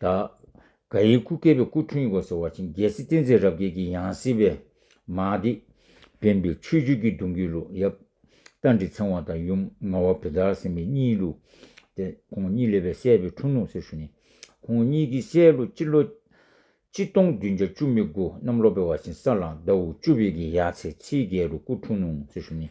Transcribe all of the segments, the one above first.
ད། ག་ཡིན་སྐུ་སྐལ་པའི་སྐུ་འཁྲུངས་ཡིག་ཟེར་བ་ཆེན་རྒྱལ་སྲིད་བསྟན་འཛིན་རབ་རྒྱས་ཀྱི་ཡང་སྲིད་པའི། མ་ཏི། བསྟན་པའི་ཆོས་བརྒྱུད་ཀྱི་གདུང་རྒྱུད་ལུགས་ཡབ། རྟ་མགྲིན་ཚེ་དབང་དང་ཡུམ་རྔ་བ་བི་དར་སེམས་དཔའི་གཉིས་ལུགས། ཏེ། ཁོང་གཉིས་ལས་པའི་སྲས་པའི་འཁྲུངས་ལུགས་ཟེར་ཞུ་ནས། ཁོང་གཉིས་ཀྱི་སྲས་ལོ་སྤྱི་ལོ། སྤྱི་སྟོང་བདུན་བརྒྱ་བཅུ་མི་དགུ་གནམ་ལོ་པའི་བ་ཆེན་ས་གླང་ཟླ་འུ་བཅུ་བའི་གི་ཡ་ཚེ་ཚེའི་རྒྱལ་རུ་སྐུ་འཁྲུངས་ཟེར་ཞུ་ནས།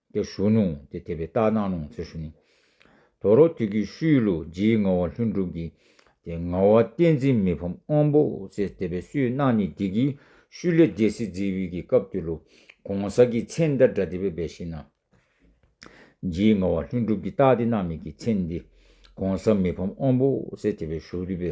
དེ་ཞུ་སྣོང་དེ་དེ་བའི་རྟགས་སྣང་སྣོང་ཚུལ་ཞུ་ནི། དོ་རོ་ཐིག་གི་ཤུལ་ལུ་རྗེའི་ངག་བ་ལྷུན་གྲུབ་ཀྱི། དེ་ངག་བ་བསྟན་འཛིན་མི་ཕམ་དབང་པོ་ཚེ་དེ་བའི་སུའི་སྣང་ནི་དེ་གི་ཤུལ་ལས་རྒྱལ་སྲིད་རྩིའི་དབུས་ཀྱི་སྐབས་དེ་ལུ་གོང་གསར་གྱི་མཚན་ལྟར་སྒྲ་དེ་བའི་སྦས་ཤིང་སྣང། རྗེའི་ངག་བ་ལྷུན་གྲུབ་ཀྱི་རྟགས་དེ་སྣང་མེད་ཀྱི་མཚན་འདི། གོང་གསར་མི་ཕམ་དབང་པོ་ཚེ་དེ་བའི་ཞུ་བདུད་པའི།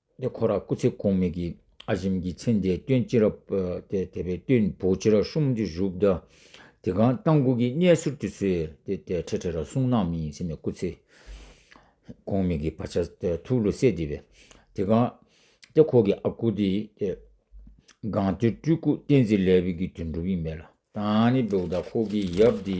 ནས་ཁོ་ར་སྐུ་ཚེ་གོང་མེད་ཀྱི་ཨ་ཞིམ་གྱི་མཚན་དེའི་སྟོན་ཅི་རབས་དེ་དེ་པའི་སྟོན་བུ་ཅི་ར་ཤོམ་དུ་བཞུགས་གདའ། དེ་གང་རྟ་མགུ་གི་གནས་ཟུར་དུ་སོས་དེ་དེ་ཁྲེ་ཁྲེ་ར་གསུང་ནག་མི་ཡིན་ཟེར་ནས་སྐུ་ཚེ་གོང་མེད་ཀྱི་བ་ཆ་ཐུགས་ལུ་སད་དེ་པས་དེ་གང་ཏེ་ཁོ་གི་ཨ་ཁུ་དེ་གང་ཏེ་སྤྲུལ་སྐུ་བསྟན་འཛིན་ལས་བོད་ཀྱི་དོན་འགྲུབ་ཡིན་མེད་ལ། ད་ནི་བོད་དང་ཁོ་གི་ཡབ་དེ།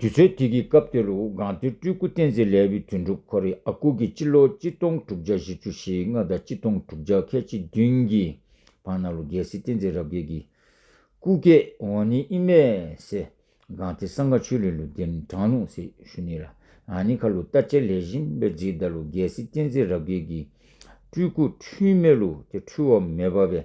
དུས་ཚོད་དེ་གི་སྐབས་དེ་རུ་སྒང་ཏུའི་སྤྲུལ་སྐུ་བསྟན་འཛིན་ལས་བུ་དོན་གྲུབ་ཁོ་རེ་ཨ་སྐུ་གིས་སྤྱི་ལོ་གཅིག་སྟོང་དྲུག་བརྒྱ་བཞི་ཅུ་ཞེ་ལྔ་དང་གཅིག་སྟོང་དྲུག་བརྒྱ་ཁལ་གཅིག་བདུན་གྱི་བར་ན་ལོ་རྒྱལ་སྲིད་བསྟན་འཛིན་རབ་རྒྱས་ཀྱི་སྐུ་སྐེ་འོ་ནི་ཨི་མེ་སེ་སྒང་ཏི་སངྒ་ཆོས་ལས་ལུ་དེན་གྲང་ལུང་སི་ཤུ་ནི་ལ་ཨ་ནི་ཁ་ལུ་རྟ་ཅལ་ལེ་བཞིན་པའི་རྗེས་ད་ལོ་རྒྱལ་སྲིད་བསྟན་འཛིན་རབ་རྒྱས་ཀྱི་སྤྲུལ་སྐུ་འཁྲུལ་མེད་ལུ་དེ་འཁྲུལ་བ་མེད་པ་བས།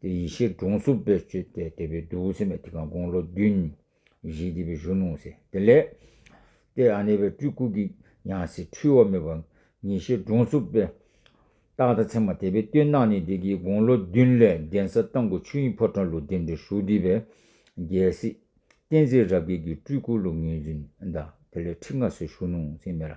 དེ་ཡེ་ཤེས་སྒྲོང་གསུམ་པས་སྤྱོད་དེ་དེ་བས་བདུད་སེམས་དེ་གང་དགོངས་ལོ་བདུན། བཞི་དེ་བས་གཞོན་ནུ་སེ་དེ་ལས། དེ་ཨ་ནེ་བས་སྤྲུལ་སྐུ་གི་ཡང་སྲིད་འཁྲུལ་བ་མེད་པ། ཡེ་ཤེས་སྒྲོང་གསུམ་པས། རྟག་དང་མཚན་མ་དེ་བས་སྟོན་སྣང་ནི་དེ་གིས་དགོངས་ལོ་བདུན་ལས་གདན་ས་བཏང་སྐུ་ཆོས་དབྱིངས་ཕོ་བྲང་ལུགས་བདེ་འབྲས་ཧྲུལ་དེ་བས། རྒྱལ་སྲིད། བསྟན་འཛིན་རབ་རྒྱས་ཀྱི་སྤྲུལ་སྐུ་ལུགས་ངེས་འཛིན་བདག་དེ་ལས་ཁྲི་ལྔ་སོས་གཞོན་ནུ་སེ་མེ་ར།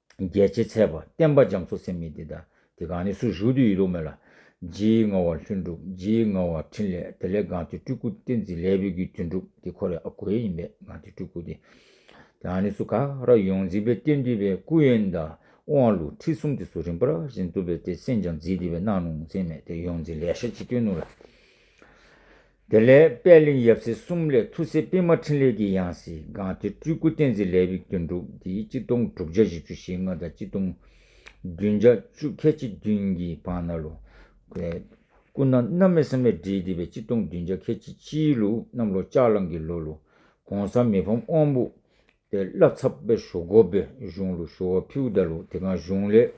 རྒྱལ་བྱེད་ཚལ་པ་བསྟན་པ་རྒྱ་མཚོ་སེམས་མི་འདི་དང་དེ་གང་ནས་སུ་ཞུགས་དུས་ཡིད་ལོག་མེད་ལ། རྗེའི་ངག་བ་ལྷུན་གྲུབ་རྗེའི་ངག་བ་ཕྲིན་ལས་དེ་ལས་གང་དེ་སྤྲུལ་སྐུ་བསྟན་འཛིན་ལས་བོད་བརྒྱུད་དོན་གྲུབ་དེ་ཁོ་རེ་ཨ་གོ་ཡེ་ཡིན་པས་གང་དེ་སྤྲུལ་སྐུ་དེ། དེ་གང་ནས་སུ་ག་ར་ཡོངས་འཛིན་པའི་བསྟན་འདུས་པའི་སྐུ་ཡོན་བདག་དབང་ལུགས་ཁྲིད་གསུམ་དེ་སུ་རིམ་པར་བཞིན་རྩོམ་པའི་དེ་སེམས་ཀྱང་འཛིན་འདི་བས་སྣང་ནུ་མཚན་མེད་དེ་ཡོངས་འཛིན་ལས་ཤ་གཅིག་སྟོན་ནུ་ལ། དེ་ལས་དཔལ་གླིང་ཡབ་སྲས་གསུམ་ལས་ཐུགས་སྲས་པད་མ་འཕྲིན་ལས་ཀྱི་ཡང་སྲིད་སྒང་ཐེ་སྤྲུལ་སྐུ་བསྟན་འཛིན་ལས་དབྱུག་ཏོ་འབྲུག་སྡེའི་སྤྱི་སྟོང་དྲུག་བརྒྱ་བཞི་བཅུ་ཞེ་ལྔ་དང་སྤྱི་སྟོང་བདུན་བརྒྱ་བཅུ་ཁས་སྤྱི་བདུན་གྱི་བང་ན་ལོ། སྐུ་ན་མནའ་མེད་བསམ་ཡས་འབྲེལ་འདི་པའི་སྤྱི་སྟོང་བདུན་བརྒྱ་ཁས་སྤྱི་སྤྱིའི་ལུགས་གནམ་ལོ་ལྕགས་གླང་གི་ལོ་ལོ། གོང་ས་མི་ཕམ་དབང་པོ། ཏེ་བླ་ཚབ་དཔལ་ཞོ་སྒོ་པའི་གཞུང་ལུགས་ཞོ་བ་ཕིའུ་ཟླ་ལུགས་དེ་གང་གཞུང་ལས།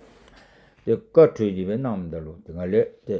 ཏེ་བཀའ་གྲོས་འདི་པའི་གནམ་ཟླ་ལུགས་དེ་གང་ལས། ཏེ།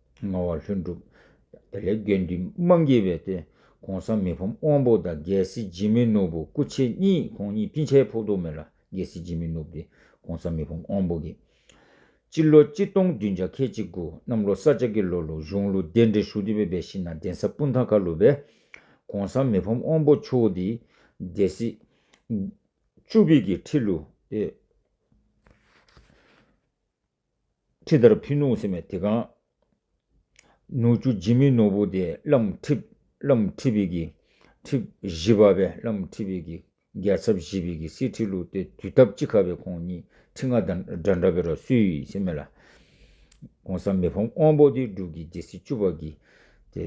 ངག་བ་ལྷུན་གྲུབ། དེ་ལས་དགེ་འདུན་སྨྲ་འགྱེད་པའི་སྟེང ྋགོང་ས་མི་ཕམ་དབང་པོ་དང་རྒྱལ་སྲིད་སྦྱིན་མི་ནུབ་བུ་སྐུ་མཆེད་གཉིས་ཁོང་གཉིས་སྤྱི་འཆལ་ཕོག་ཐུག་མེད་ལ་རྒྱལ་སྲིད་སྦྱིན་མི་ནུབ་ཏེ ྋགོང་ས་མི་ཕམ་དབང་པོ་གྱིས། སྤྱི་ལོ་གཅིག་སྟོང་བདུན་བརྒྱ་ཁལ་གཅིག་དགུ་གནམ་ལོ་ས་ལྕགས་ཀྱི་ལོ་ལོ་གཞུང་ལུགས་རྟེན་འབྲེལ་ཧྲུའུ་ཏི་པའི་སྦས་ཤིང་ན་གདན་ས་སྤུན་ཐང་ཁ་ལུ་པས ྋགོང་ས་མི་ཕམ་དབང་པོ་མཆོག་འདི་རྒྱལ་སྲིད་བཅུ་བྷིད་ཀྱི་ཁྲི་ལུ་ཏེ། ཁྲི་ལྟར་ཕུ་ནུ་སེམས་མའི་དེ་ག། ནུ་བཅུ་སྦྱིན་མི་ནོར་བུ་དེ་བླ་མ་ཁྲི། བླ་མ་ཁྲི་བི་གི། ཁྲི། བཞི་པ་བས་བླ་མ་ཁྲི་བི་གི། རྒྱལ་ཚབ་བཞི་བི་གི་སྲིད་ཁྲི་ལུགས་ཏེ་དུས་ཐབས་གཅིག་ཁ་བའི་ཁོང་གཉིས་ཁྲི་ལྔ་སྒྲ་འདྲ་བའི་རོ་སུའི་སེམས་མེ་ལ། གོང་ས་མི་ཕམ་དབང་པོ་དེ་འབྲུག་གི་རྒྱལ་སྲིད་བཅུ་པ་གི། དེ།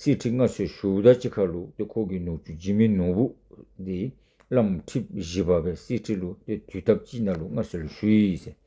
སྲིད་ཁྲི་ལྔ་སོས་བཞུགས་ཟླ་གཅིག་ཁ་ལུགས་ཏེ་ཁོ་གི་ནུ་བཅུ་སྦྱིན་མི་ནོར་བུ་དེ། བླ་མ་ཁྲི། བཞི་པ་བས་སྲིད་ཁྲི་ལུགས་ཏེ་དུས་ཐབས་གཅིག་ན་ལུགས་ལྔ་སོས་ལ་བཞུགས།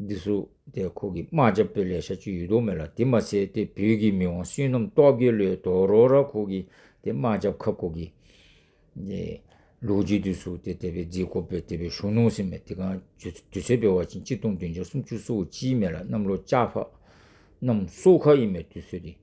འདི་སུ་དེ་ཁོ་གི་རྨ་བྱ་བོད་ལས་ཤ་ཆུ་ཡུལ་དོག་མེད་ལ་དེ་མ་ཟེ་དེ་བོད་གི་མི་དབང་སུན་ནམ་ཏོག་གི་ལོའི་དོག་རོག་ར་ཁོ་གི་དེ་རྨ་བྱ་བ་ཁབ་ཁོ་གི། དེ་ལུག་རྗེ་དུས་སུ་དེ་དེ་བའི་རྫི་ཁོ་བོད་དེ་བའི་གཞུང་ནོང་སེ་མེད་དེ་གང་དུས་ཚོད་བེ་བ་ཅིང་གཅིག་སྟོང་བདུན་བརྒྱ་སུམ་ཅུ་སུ་བོ་ཅིའི་མེད་ལ་གནམ་ལོ་ལྕགས་ཕག་གནམ་སུ་ཁ་ཡི་མེད་དུས་ཚོད་དེ།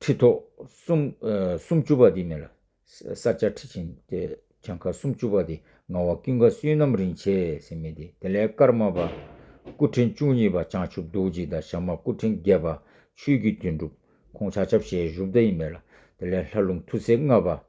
ཁྲི་ཐོག་སུམ། སུམ་བཅུ་པ་དེ་མེ་ལ། ས་བཅའ་ཁྲི་ཆེན་ཏེ། བྱང་ཁ་སུམ་བཅུ་པ་དེ་ངང་བ་ཀུན་དགའ་བསོད་ནམས་རིན་ཆེ་སེམས་མེ་དེ་དེ་ལས་དཀར་དམར་པ། སྐུ་ཕྲེང་བཅུ་གཉིས་པ་བྱང་ཆུབ་རྡོ་རྗེ་དང་ཞབས་མ་སྐུ་ཕྲེང་བརྒྱད་པ་ཆོས་ཀྱི་དོན་གྲུབ་ཁོང་ཕྱག་ཆབ་ཞལ་བཞུགས་མདའ་ཡི་མེ་ལ་དེ་ལས་ལྷ་ལུང་ཐུགས་སྲས་ལྔ་པ།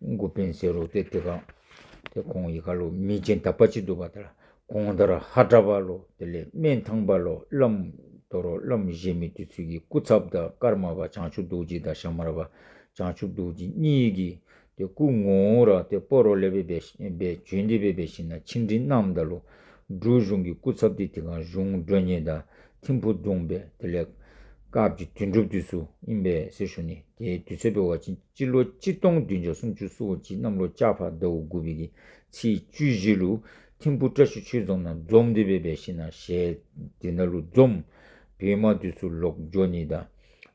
མགུ་བེན་སེ་རོ་ཏེ་ཏེ་གང། དེ་ཁོང་ཡི་ག་ལོ་མི་ཅན་དག་པ་ཅི་འདུག་པ་དར་གོང་དར་ཧ་དྲ་བ་ལོ་དེ་ལས་སྨན་ཐང་པ་ལོ་བླམ་དོ་རོ་བླམ་བཞེས་མི་དུས་ཚོད་ཀྱི་སྐུ་ཚབ་དང་ཀར་མ་བ་བྱང་ཆུབ་རྡོ་རྗེ་དང་ཞྭ་དམར་བ་བྱང་ཆུབ་རྡོ་རྗེ་གཉིས་ཀྱིས་དེ་སྐུ་ངོ་བོ་ར་ཏེ་སྤོ་རོ་ལེ་བེ་བའི་བྱོན་དེ་བེ་བའི་ཞིང་ན་ཆིང་ཁྲིན་རྣམས་དང་ལུ་འབྲུག་གཞུང་གི་སྐུ་ཚབ་ཏེ་ཏེ་གང་གཞུང་འགྲོས་ཉེ་དང་ཐིམ་ཕུ་བརྡུངས་པས་དེ་ལས། སྐབས་ཀྱི་དོན་གྲུབ་དུས་སུ་དབྱིན་པའི་གསེར་ཞོ་ནི་དེའི་དུས་ཚོད་སྤེལ་བ་ཕྱིན་ཅི་ལོ་གཅིག་སྟོང་བདུན་བརྒྱ་སུམ་ཅུ་སོ་གཅིག་གནམ་ལོ་ལྕགས་ཕག་ཟླ་བོ་དགུ་བྷི་ཀྱི་ཚེས་བཅུ་བཞི་ལུ་ཐིམ་ཕུ་བཀྲ་ཤིས་ཆོས་རྫོང་ན་འཛོམས་འདི་བས་པའི་ཤི་ན་ཞལ་དེ་ན་ལུ་འཛོམས་བི་མ་དུས་སུ་ལོག་འཇོ་ནི་དང་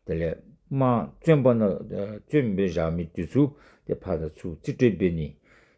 དེ་ལས། མ་བཙོན་པ་ན་བཙོན་བི་རག་མི་དུས་སུ་དེ་ཕ་དང་ཚུ་རྩི་སྤྲེལ་བི་ནི།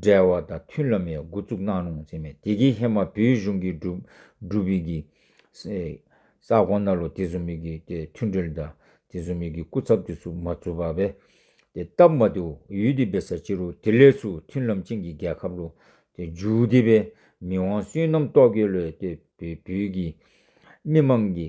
འབྲེལ་བ་དང་མཐུན་ལམ་ཡང་མགོ་བཙུགས་གནང་རུང་ཟེར་མེད་དེ་གའི་ཧེ་མ་བོད་གཞུང་གི་སྒྲུབ་ཡིག་གི་ས་དགོངས་ན་ལོ་དེ་ཚོ་མིག་གིས་དེ་མཐུན་འབྲེལ་དང་དེ་ཚོ་མིག་གིས་སྐུ་ཚབ་དེ་ཚོ་མ་བཙུགས་པ་བས་དེ་སྟབས་མ་བདེའོ་ཡུལ་དེ་བས་ས་ཕྱི་རུ་དེ་ལས་སུ་མཐུན་ལམ་ཅན་གྱི་རྒྱལ་ཁབ་རུ་དེ་འཇུག་དེ་བས་མི་དབང་བསོད་ནམས་རྟོག་གེ་ལོས་དེ་བས་བོད་ཀྱི་མི་དམངས་ཀྱི་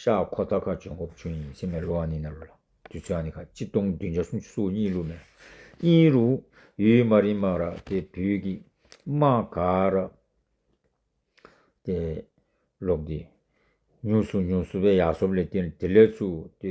ཤ་ཁོ་རྟ་ཁ་བྱོན་ཁོ་བུ་བྱོན་ཡིན་སེམས་ལ་ལོ་ཨ་ནི་ན་ལོ་ལ་དུས་ཚོད་ཨ་ནི་ཁ་གཅིག་སྟོང་བདུན་བརྒྱ་སུམ་ཅུ་སོ་གཉིས་ལུགས་ནས་དབྱིན་རུ་ཡུལ་དམའ་རིམ་དམའ་ར་དེ་བོད་ཀྱི་དམའ་ག་ར་དེ་ལོག་དེ་ཉུང་སུ་ཉུང་སུ་བའི་ཡ་སོབ་ལས་དེ་ལས་ཚུགས་དེ་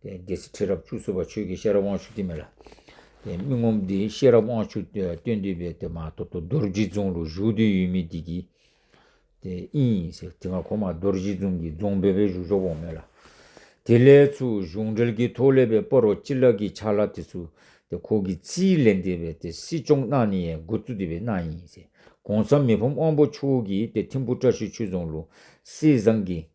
སྡེ་སྲིད་ཁྲི་རབས་བཅུ་གསུམ་པ་ཆོས་ཀྱི་ཤེས་རབ་དབང་ཕྱུག་ཐིམ་མེ་ལ། མི་ངོམས་སྡེ་བཞི་ཤེས་རབ་དབང་ཕྱུག་སྟོན་འདུས་པའི་སྡེ་མ་ཐོ་ཐོ་རྡོ་རྗེ་རྫོང་རུ་བཞུགས་དུས་ཡུལ་མི་སྡེ་ཀྱི། དབྱིན། དེ་སྔ་གོང་མ་རྡོ་རྗེ་རྫོང་གི་རྫོང་བོད་པའི་གཞུང་ཤོག་འོག་མེ་ལ། དེ་ལས་ཚུར་གཞུང་འབྲེལ་གྱི་ཐོག་ལས་པའི་དཔའ་རོག་སྤྱི་ལགས་ཀྱི་ཕྱག་ལ་དེ་ཚུར་དེ་ཁོག་གི་རྩིས་ལས་འདས་པའི་དེ་སྲིད་སྐྱོང་གནང་ནི་ཡའི་འགོ་གཙོ་འདུས་པའི་གནང་ཡིན། གོང་ས་མི་ཕམ་དབང་པོ་མཆོག་གིས་དེ་ཐིམ་པོ་བཀྲ་ཤིས་ཆོས་རྫོང་ལུང་སྲིད་བཟང་གིས།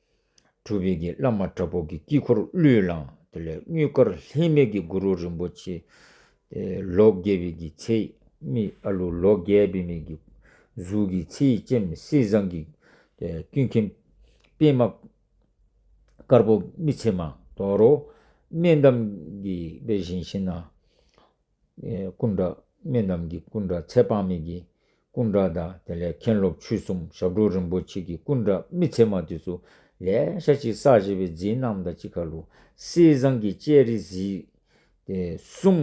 གྲུབ་འབྲས་ཀྱི་བླ་མ་དྲག་པོ་གི་དཀྱིལ་འཁོར་གླུད་བླངས་དེ་ལས་སྙུད་དཀར་ལྷད་མེད་ཀྱི་གུ་རུ་རིན་པོ་ཆེ། ལོ་བརྒྱད་པའི་གི་ཚེ་རྨིས་ཨ་ལུ་ལོ་བརྒྱད་པའི་མེ་གི་གཟུགས་ཀྱི་ཚེ་ཡི་སྤྱན་མི་གསལ་བཟང་གི་དཀྱུས་མཁན་པད་མ་དཀར་པོ་རྨིས་ཚེ་མ་དོར་རོ། སྨན་འདམ་གི་དཔལ་བཞིན་ཤེས་ན། སྐུ་འདྲ་མི་རྣམས་ཀྱི་སྐུ་འདྲ་ཚད་དཔག་མེད་ཀྱི་སྐུ་འདྲ་དང་དེ་ལས་མཁན་སློབ་ཆོས་གསུམ་ཞབས་དྲུང་རིན་པོ་ཆེ་ཀྱི་སྐུ་འདྲ་མི་ཚད་མ་དུས་སུ་ལས་ཤ་གཅིག་བསགས་བྱེད་པའི་རྫིའི་སྣམ་དང་གཅིག་ཁ་ལུ་སེའི་བཟང་གི་སྤྱད་རི་གཟིགས། གསུམ།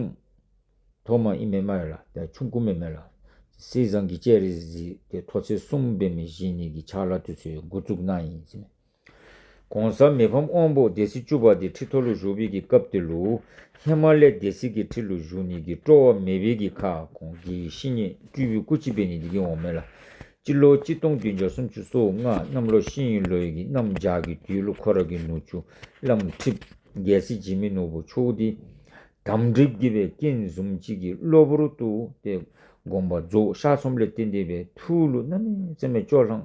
ཐོག་མ་ཨི་མེ་མ་ཡོད་ལ་དེ་ཆུང་སྐུ་མེ་མེད་ལ། སེའི་བཟང་གི་སྤྱད་རི་གཟིགས། ཐོག་ཚེས་གསུམ་པའི་མི་བཞི་གཉིས་ཀྱི་ཕྱག་ལ་དུས་ཚོད་འགོ་བཙུགས་གནང་ཡིན། གོང་ས་མི་ཕམ་དབང་པོ་སྡེ་སྲིད་བཅུ་པ་དེ་ཁྲི་ཐོ་ལུ་ཞུགས་འབིལ་གྱི་སྐབས་དེ་ལུ་ཧེ་མ་ལེ་སྡེ་སྲིད་ཀྱི་ཁྲི་ལུ་ཞུགས་ཉིད་ཀྱི་སྤྲོ་བ་མེ་བིལ་གྱི་ཁ་གོང་གི་ཤི་ཉིན་སྤྲུལ་བུའི་སྐུ་ཕྱི་པའི་ཉིན་དེ་གིན་འོག་མིན་ལ། སྤྱི་ལོ་གཅིག་སྟོང་བདུན་བརྒྱ་སུམ་ཅུ་སོ་ལྔ་གནམ་ལོ་ཤིན་ཡུལ་ལོའི་གྱི་གནམ་ལྗགས་ཀྱི་དུས་ལུ་ཁོ་ར་གི་ནུ་ཆུ་བླངས་ཁྲིབ་རྒྱལ་སྲིད་བྱེད་མི་ནོར་བུ་ཆོས་འདི་དམ་སྒྲིབ་བགྱིས་པའི་རྐྱེན་གཟུམ་གཅིག་གི་གློ་བུར་དུ་སྟེ་དགོངས་པ་རྫོགས་ཤར་ཚོམ་ལས་སྟེ་འདས་པའི་ཐུགས་ལུ་སྣ་མའི་རྩེ་མོས་ཅོག་ལྷང་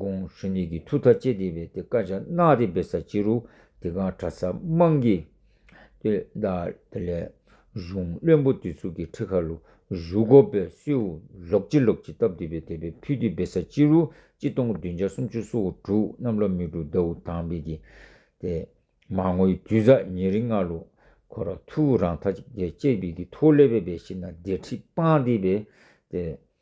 ཀོང་ཧྲེ་ནེ་གིས་ཐུགས་ཐག་བཅད་དེ་བས་དེ་དཀར་ཆ་གནག་དེ་སྦེད་ས་ཅི་རུ་དེ་གང་གྲ་ས་དམངས་ཀྱི། དེ་ལ་དེ་ལས་གཞུང་བློན་པོ་དེ་ཚུགས་ཀྱི་ཁྲི་ཁ་རུ་བཞུགས་གོ་བས་སུའུ་ལོག་ཅི་ལོག་ཅི་བཏབ་དེ་བས་དེ་བས་ཕུད་དེ་སྦེད་ས་ཅི་རུ་ཅི་སྟོང་བདུན་བརྒྱ་སུམ་ཅུ་སོ་དྲུག་གནམ་ལོ་མི་དྲུག་ཟླ་འུ་དང་བས་ཀྱི། དེ་མ་ངོའི་དུས་ཟག་ཉི་རི་ལྔ་ལོ་ཁོ་ར་ཐུགས་རང་ཐག་བཅད་བས་ཀྱི་ཐོ་ལེ་བས་བས་ཤི་ན་དེ་ཁྲི་སྤངས་དེ་བས་དེ།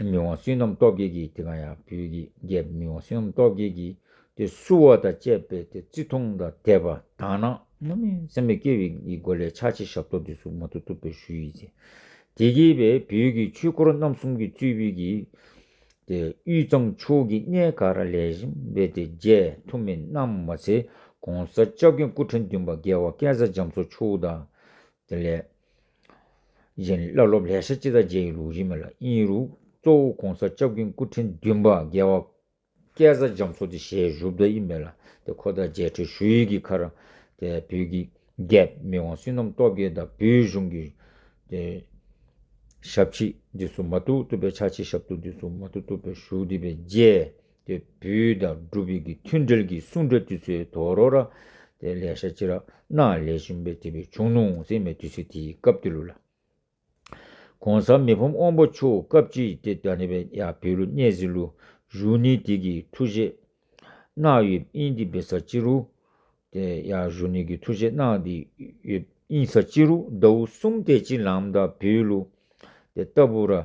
མི་དབང་བསོད་ནམས་སྟོབས་རྒྱལ་གྱིས་དེ་གང་ཡང་བོད་ཀྱི་རྒྱལ་པོ་མི་དབང་བསོད་ནམས་སྟོབས་རྒྱལ་གྱིས་དེ་བསུ་བ་དང་བཅས་པས་དེ་བརྩི་མཐོང་དང་དད་པ་དག་ན་སྔ་མའི་སེམས་ལས་སྐྱེ་བའི་སྒོ་ལས་ཕྱག་བྱས་ཞབས་ཏོག་འདི་བསུ་མ་ཐུབ་ཐུབ་པའི་ཞུ་ཡིག་བྱས། དེ་གྱིས་པས་བོད་ཀྱི་ཆོས་འཁོར་རྣམ་གསུམ་གྱི་གཙོས་བོད་ཀྱི་དེ་དབུས་གཙང་ཕྱོགས་ཀྱི་གནས་ག་ར་ལས་བཞིན་པའི་དེ་རྒྱལ་ཐུ་མི་རྣམས་མ་ཚད་གོང་ས་སྐྱབས་མཁན་སྐུ་ཕྲེང་བདུན་པ་རྒྱལ་བ་སྐལ་བཟང་འཇམ་མཚོ་མཆོག་དང། དེ་ལས། བཞིན་བླ་སློབ་ལྷས་ཤ་ཅི་ད་རྗེ་ཡི་ལུགས་རིས་མེད་ལ་དབྱིན་རུ་གཙོ་བོ་གོང་ས་ལྕགས་ཀྱུང་སྐུ་ཕྲེང་བདུན་པ་རྒྱལ་བ་སྐལ་བཟང་རྒྱ་མཚོ་དེ་ཞལ་བཞུགས་ད་ཡིན་མེད་ལ་དེ་ཁོ་ད་རྗེ་ཁྲི་ཞུ་ཡིག་གི་ཁར་དེ་བོད་ཀྱི་རྒྱལ་མི་དབང་བསོད་ནམས་སྟོབས་རྒྱལ་དང་བོད་གཞུང་གི་དེ་ཞབས་ཕྱི་འདི་སུ་མ་ཐུག་ཐུབ་པའི་ཕྱག་ཕྱི་ཞབས་ཐུག་འདི་སུ་མ་ཐུག་ཐུབ་པའི་བཞུགས་འདི་པའི་རྗེ། ཏེ་བུའི་དང་སྒྲུབ་བུའི་གྱི་མཐུན་འབྲེལ་གྱི་གསུང་སྒྲ་དུས་ཚོད་དོ་རོ་ར། དེ་ལས་ཤ་ཅི་ར་ན་ལས་བྱིན་པས་དེ་བུའི་ཆུང་ནུ་འོང་སྲིད་མེ་དུས་ཚོད་དེའི་སྐབས་དེ་ལུགས་ལ། གོང་ས་མི་ཕམ་དབང་པོ་ཆོས་སྐབས་ཀྱི་དེ་ད་ནི་བས་ཡ་བུའི་ལུ་གནས་ཟིན་ལུ་གཞུག་ནི་དེ་གི་ཐུགས་བཞེད། གནག་ཡོད་དབྱིན་དེ་བི་ས་ཅི་རུ། དེ་ཡ་གཞུག་ནི་གི་ཐུགས་བཞེད་གནག་དེ་ཡོད་དབྱིན་ས་ཅི་རུ་ཟླ་བུ་གསུམ་དེ་ཅི་ལམ་ད་བུའི་ལུ། དེ་ལྟ་བུ་ར།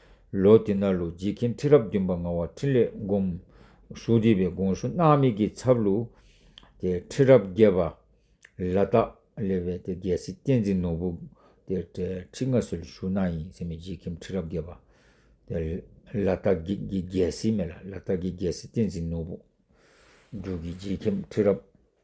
ལོ་དེ་ནཱ་ལུ་རྗེ་ཁྱིམ་ཁྲི་རབས་བདུན་པ་ངག་དབང་འཕྲིན་ལས་སྒོམ་ཞུ་བྲིས་པའི་དགོངས་ཞུ་སྣང་མེད་ཀྱི་ཚབ་ལུ་དེ་ཁྲི་རབས་བརྒྱད་པ་ལ་སྟག་ལེ་བའི་དེ་རྒྱལ་སྲིད་བསྟན་འཛིན་ནོར་བུ་དེ་ཁྲི་ལྔ་སྲོལ་ཞུ་གནང་ཡིན་ཟེར་མེད་རྗེ་ཁྱིམ་ཁྲི་རབས་བརྒྱད་པ་དེ་ལ་སྟག་གི་རྒྱལ་སྲིད་མེད་ལ་ལ་སྟག་གི་རྒྱལ་སྲིད་བསྟན་འཛིན་ནོར་བུ་འབྲུག་གི་རྗེ་ཁྱིམ་ཁྲི་རབས།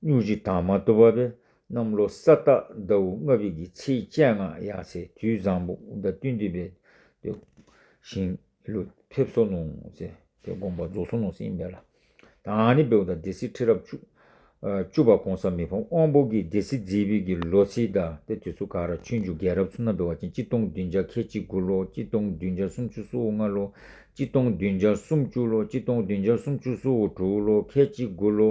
སྨྱུག་གཅིག་དྭངས་མ་དུ་བ་པའི་གནམ་ལོ་ས་བདག་ཟླ་བུ་ལྔ་བརྒྱད་ཀྱི་ཚེས་བཅད་ལྔ་ཡར་ཚེས་དུས་བཟང་པོ་དགུན་ཟླ་བདུན་དུས་བས་ཏེ། ཞིང་ལུས་ཕེབས་སོ་ནོ། ཚེ་དེ་དགོངས་པ་རྫོགས་སོ་ནོ་སིང་བལ་ལ། དང་ནི་བེའུ་དང་སྡེ་སྲིད་ཁྲི་རབས་བཅུ། བཅུ་པ་གོང་ས་མི་ཕམ་དབང་པོ་དགེ་སྡེ་སྲིད་རྩེའི་བེའུ་ཀྱི་ལོ་ཚེས་ཟླ་སྟེ་དུས་ཚོད་ཀ་ར་ཆུ་མཇུག་རྒྱལ་རབས་ཚུན་ནམ་བེ་བ་ཅན་སྤྱི་སྟོང་བདུན་བརྒྱ་ཁལ་གཅིག་དགུ་ལོ་སྤྱི་སྟོང་བདུན་བརྒྱ་སུམ་ཅུ་སོ་ལྔ་ལོ་སྤྱི་སྟོང་བདུན་བརྒྱ་སུམ་བཅུ་ལོ་སྤྱི་སྟོང་བདུན་བརྒྱ་སུམ་ཅུ་སོ་དྲུག་ལོ་ཁལ་གཅིག་དགུ་ལོ།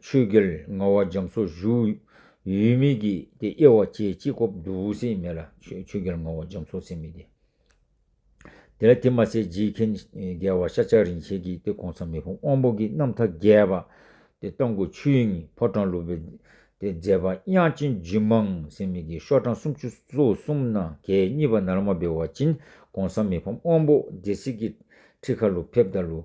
ཆོས་རྒྱལ་ལྔ་བ་འཇམ་སོགས་བཞུགས། ཡུལ་མི་ཀྱི་དེ་དབྱེ་བ་ཅི་ཅི་ཁོབ་བསྡུ་བོ་སེ་མེད་ལ་ཆོས་རྒྱལ་ལྔ་བ་འཇམ་སོགས་སེ་མེད་དེ། དེ་ལ་དེ་མ་ཟད་རྗེའི་མཁན་རྒྱལ་བ་ཤཱཀྱ་རིན་ཆེན་གྱི་དེ་གོང་ས་མི་བུ་དབང་པོ་གྱི་རྣམ་ཐར་རྒྱས་པ་དེ་སྟོང་གི་ཆོས་དབྱིངས་ཕོ་བྲང་ལུགས་པའི་དེ་མཛད་པ་དབྱངས་ཅན་རྒྱུད་མངས་སེ་མེད་ཀྱི་ཤོག་གྲངས་སུམ་ཅུ་སོ་གསུམ་ན་གད་གཉིས་པ་ནར་མ་སྦེ་བ་ཅིན་གོང་ས་མི་ཕམ་དབང་པོ་སྡེ་སྲིད་ཀྱི་ཁྲི་ཁ་ལུ་ཕེབས་དང་ལུ་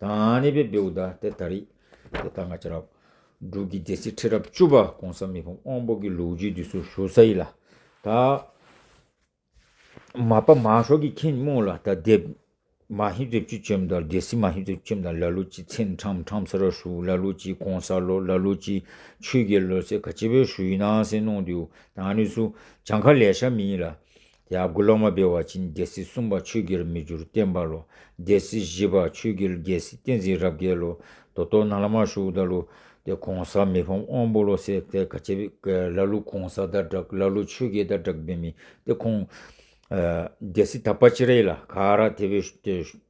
དང་ནི་བེ་བུདྡྷ་སྟེ་ད་རི། དེ་ལྟར་ང་ཅི་རབ། འབྲུག་གི་སྡེ་སྲིད་ཁྲི་རབས་བཅུ་པ་གོང་ས་མི་ཕམ་དབང་པོ་གི་ལུགས་རྒྱུད་འདི་སུ་ཞུ་ས་ཡི་ལ། ད། མ་པ་མ་ཤོག་གི་ཁྱིམ་རྨུགས་ལ་ད་འདེབས། མ་ཧི་བརྩེགས་ཆུ་ཁྱིམ་དང་སྡེ་སྲིད་མ་ཧི་བརྩེགས་ཁྱིམ་དང་ལ་ལུ་ཅི་ཚན་ཁྲམ་ཁྲམ་ས་ར་ཞུ་ལ་ལུ་ཅི་གོང་ས་ལོ་ལ་ལུ་ཅི་ཆུས་གེ་ལོ་སེ་ག་སྤྱི་བོའི་ཞུ་ཡི་ནང་སེ་ནོང་དུ་ཡུ་དང་ནི་སུ་བྱང་ཁ་ལས་ཤ་མི་ཡི་ལ། དེ་དགུ་ལོག་མ་སྦེལ་བ་ཕྱིན་རྒྱལ་སྲིད་གསུམ་པ་ཆོས་རྒྱལ་མི་འགྱུར་བསྟན་པ་ལོ་རྒྱལ་སྲིད་བཞི་པ་ཆོས་རྒྱལ་རྒྱལ་སྲིད་བསྟན་འཛིན་རབ་རྒྱལ་ལོ་དོ་སྟོ་ན་བླ་མ་ཤུགས་ད་ལོ་སྟེ་གོང་ས་མི་ཕམ་དབང་པོ་ལོ་སེ་ཏེ་ག་ཅེ་བླ་ལོ་གོང་ས་ད་དྲག་བླ་ལོ་ཆོས་རྒྱལ་ད་དྲག་བེ་མི་སྟེ་ཁོང་རྒྱལ་སྲིད་ད་པ་ཅེ་རེ་ལ་ག་ར་དེ་བེ